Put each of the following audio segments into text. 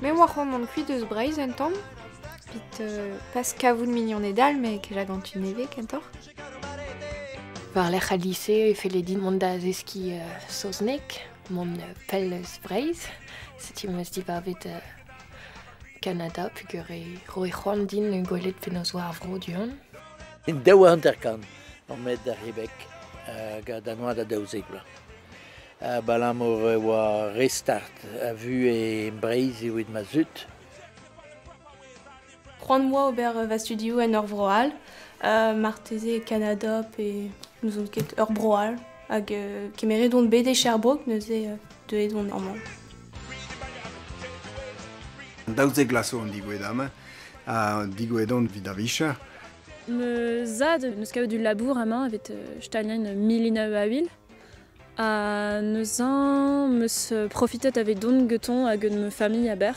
Me oa c'hoant mont kuit eus Breizh un tamm, evit euh, pas kavout mignoned all, mais que j'aventure nevez kentoc'h. War-lerc'h al lise e felle din mont da zeskiñ euh, saozneg, mont euh, pell eus Breizh. Setu m'eus dibavet Kanada pugareiñ. Roit c'hoant din gwelet penaos oa ar vro du-hont. En daou hanter-kant on met da Rebec hag da noa da daouzek vloaz. Abalamour e oa re start a vuhez Breizh evit ma zud. C'hoant 'moa ober va studioù en ur vro all. marteze Kanada pe n'ouzon ket ur bro all. Hag kemeret on bet e Sherbrooke neuze deuet on amañ. Daouzek glas zo an digouedam-mañ, ha digouedon evit da vicher. Ma zad neus kavet ul labour amañ evit staliañ milina a vil. Ha neuze meus profitet evidon getoñ hag gant ma familh a-berr.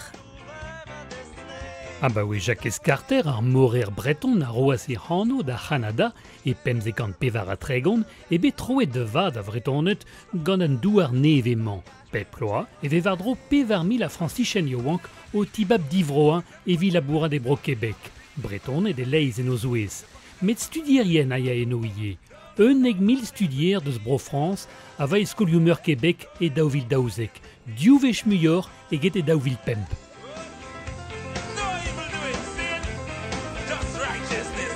Abaoe Jakez Karter, ar morer breton a roas e anv da C'hanada e pemzek kant pevar ha tregont eo bet troet da vat a Vretoned gant an douar nevez-mañ. Bep bloaz e vez war-dro pevar mil a Frañsichenn yaouank o tibab divroañ evit labourat e Bro-Kebek, Bretoned e-leizh en o zouez. Met studierien a ya eno ivez. Unnek mil studier deus Bro-Frañs a va e skolioù-meur Kebek e daou vil daouzek, div wech muioc'h eget e daou vil pemp. No evil do it, sin! Just righteousness,